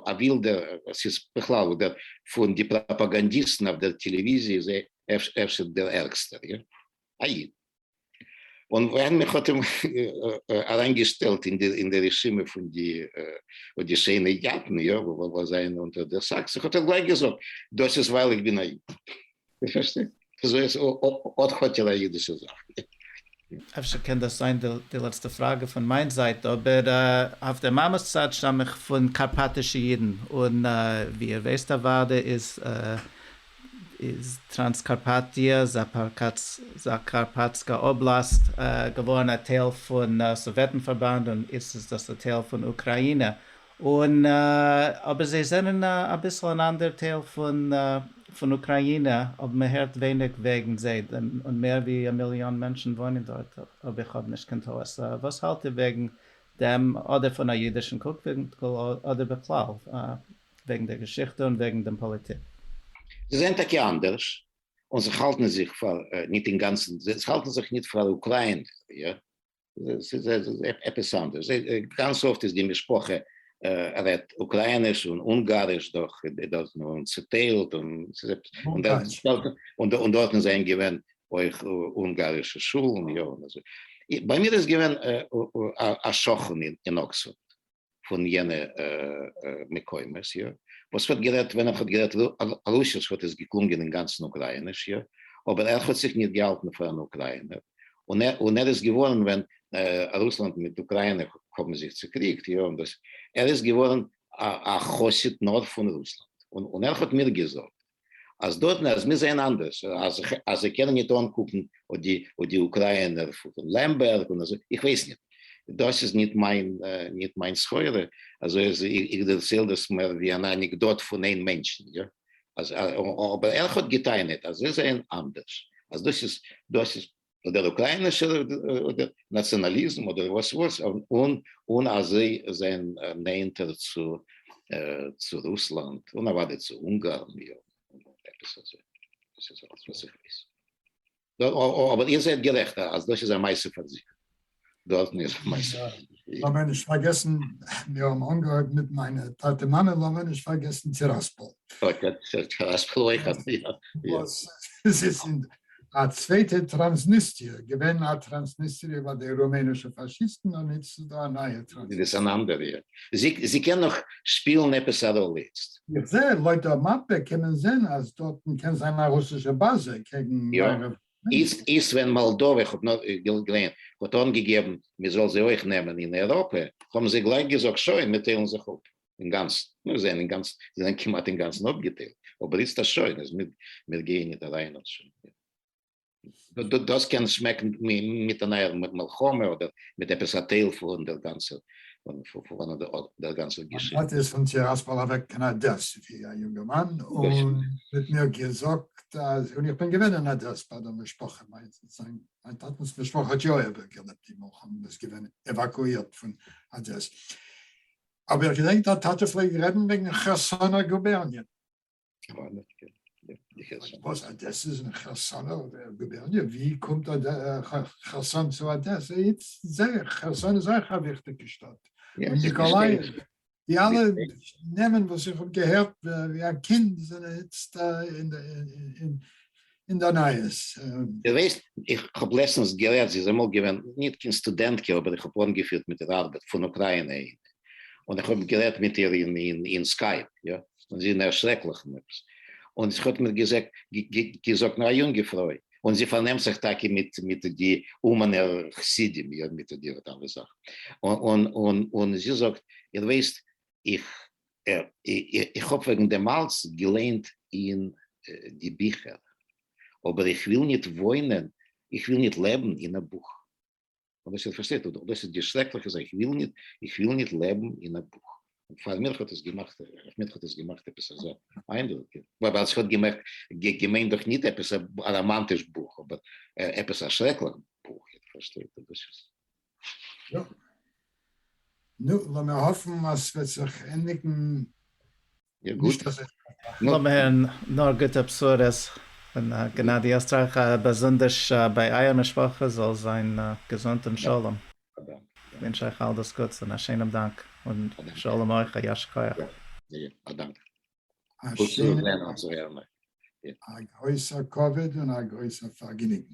א ווילדע ס'איז בכלל אדער פון די פראפאגאנדיסטן אויף דער טעלעוויזיע איז ער אפשר דער ערגסטער יא א איד. און ווען מען האט אים אריין געשטעלט אין די רשימה פון די פון די שיינע יאטן יא וואס זענען אונטער די סאקסן האט ער גלייך געזאגט דאס איז ווייל איך בין א איד. פארשטייט אזוי אז אט האט ער א אידישע זאך. אפשר קען דאס זיין די לעצטע פראגע פון מיין זייט, אבער אויף דער מאמע'ס צד שטאם איך פון קארפאטישע אידן, און ווי איר ווייסט אוודאי איז איז טראנסקארפאטיע, זאקארפאטסקא אבלאסט, געווארן א טייל פון סאוועטן-פארבאנד און איצט איז דאס א טייל פון אוקראינע, און אבער זיי זענען אביסל אן אנדער טייל פון אוקראינע, אבער מען הערט ווייניג וועגן זיי, און מער ווי א מיליאן מענטשן וואוינען דארט, אויב איך האב נישט קיין טעות. וואס האלט איר וועגן דעם, אדער פון א אידישן קוק-ווינקל אדער בכלל? וועגן דער געשיכטע און וועגן דעם פאליטיק. זיי זענען טאקע אנדערש, און זיך האלטן זיך פאר, ניט אינגאנצן, זיי האלטן זיך ניט פאר אוקריינער, יא, ס'איז עפעס אנדערש, גאנץ אפט איז די משפחה רעדט אוקריינעש און אונגאריש, דאך איז דאס נאר צעטיילט, און ס'איז עפעס אנדערש, און דארטן זענען געווען אויך אונגארישע שולן, יא, און אזוי, ביי מיר איז געווען א שכן אין אקספארד. פון יענע מקומות יא, וואס ווערט גערעדט ווען ער האט גערעדט רוסיש וואלט עס געקלונגען אינגאנצן אוקרייניש יא, אבער ער האט זיך ניט געהאלטן פאר אן אוקריינער, און ער איז געווארן ווען רוסלאנד מיט אוקריינע האבן זיך צוקריגט יא, ער איז געווארן א חסיד נאר פון רוסלאנד, און ער האט מיר געזאגט אז דארט נאר אז מיר זעהן אנדערש אז אז זיי קענען ניט אנקוקן אט די אט די אוקריינער פון לעמבערג און אזוי איך ווייס ניט דאס איז ניט מיין ניט מיין סחורה אזוי אז איך דערצייל דאס מער ווי אן אנעקדאט פון איין מענטשן יא אז אבער ער האט געטענה'ט אז זיי זעהן אנדערש אז דאס איז דאס איז אדער אוקריינישער נאציאנאליזם אדער וואס וואס און און אז זיי זענען נענטער צו צו רוסלאנד און אוודאי צו אונגארן יא עפעס אזוי דאס איז אלעס וואס איך ווייס אבער איר זענט גערעכט אז דאס איז א מעשה פאר זיך דו האסט מיר געמייסערט. לאמיר נישט פארגעסן, מיר האבן אנגעהויבן מיט מיינע טאטע מאמע, לאמיר נישט פארגעסן צו ראספעל. ראספעל אויך האט מיר געמייסערט. א צווייטע טראנסניסטריע, געווען א טראנסניסטריע ביי די רומענישע פאשיסטן, און איצט איז דא א נייע טראנסניסטריע. דאס איז אן אנדערע. זי קען נאך שפילן עפעס א ראלע איצט. איך זע, לויט דער מאפע קען מען זען אז דארטן קען זיין א רוסישע באזע קעגן מערב. איצט איז ווען מאלדאווע, איך האב נאר געליינט, האט אנגעגעבן מען זאל זיי אויך נעמען אין אייראפע, האבן זיי גלייך געזאגט שוין מיר טיילן זיך אפ אינגאנצן, מיר זענען אינגאנצן, זיי זענען כמעט אינגאנצן אפגעטיילט, אבער איצט אז שוין אז מיר מיר גייען ניט אריין האט שוין מיר, דאס קען שמעקן מיט אן אייער מלחמה אדער מיט עפעס א טייל פון דער גאנצער. פון וואנעט דער גאנצער געשיכטע. מיין טאטע איז פון טיראספאל אוועק קיין אדעס ווי א יונגערמאן און מ'האט מיר געזאגט אז און איך בין געווען אין אדעס ביי די משפחה, מיין טאטענ'ס משפחה האט יא איבערגעלעבט די מלחמה איז געווען עוואקואירט פון אדעס אבער איך געדענק דיין טאטע פלעגט רעדן וועגן חרסונא גובערניע. וואס אדעסע איז אין חרסון אויף גובערניע? ווי קומט חרסון צו אדעסע? איצט זע איך, חרסון איז אויך א וויכטיגע שטאט, און ניקאלייעוו, די אלע נעמען וואס איך האב געהערט ווי א קינד זענען איצט אין אין די נייעס. די ווייסט איך האב לעצטענס גערעדט זי איז אמאל געווען ניט קיין סטודענטקע אבער איך האב אנגעפירט מיט איר ארבעט פון אוקריינע און און איך האב גערעדט מיט איר אין אין אין סקייפ יא און זי נער שרעקליך און עפעס און זי האט מיר געזעגט געזאגט נאר א יונגע פרוי און זי פארנעמט זיך טאקע מיט מיט די אומאנער חסידים יא מיט די וואט עווער זאכן און און און זי זאגט איר ווייסט איך איך האב וועגן דעם אלץ געליינט אין די ביכער, אבער איך וויל ניט וואוינען, איך וויל ניט לעבן אין א בוך. אבער איר פארשטייט, דאס איז די שרעקלעכע זאך, איך וויל ניט, איך וויל ניט לעבן אין א בוך. און פאר מיר האט עס געמאכט, אויף מיר האט עס געמאכט עפעס אזא איינדרוק, ווייל איך האב געמערקט, געמיינט דאך ניט עפעס א ראמאנטיש בוך, אבער עפעס א שרעקלעך בוך, איר פארשטייט, דאס איז. יא. נו, לאמיר האפן אז ס'וועט זיך ענדיגן נישט אזוי שלעכט. לאמיר הערן נאר גוטע בשורות פון גענאדי עסטרייכער, א באזונדערש ביי אייער משפחה, זאל זיין געזונט און שלום. איך ווינטש אייך אל דאס גוטס און א שענעם דאנק, און שלום אויך, א ישר כח. א דאנק. א גרויסע כבוד און א גרויסע פארגעניגן.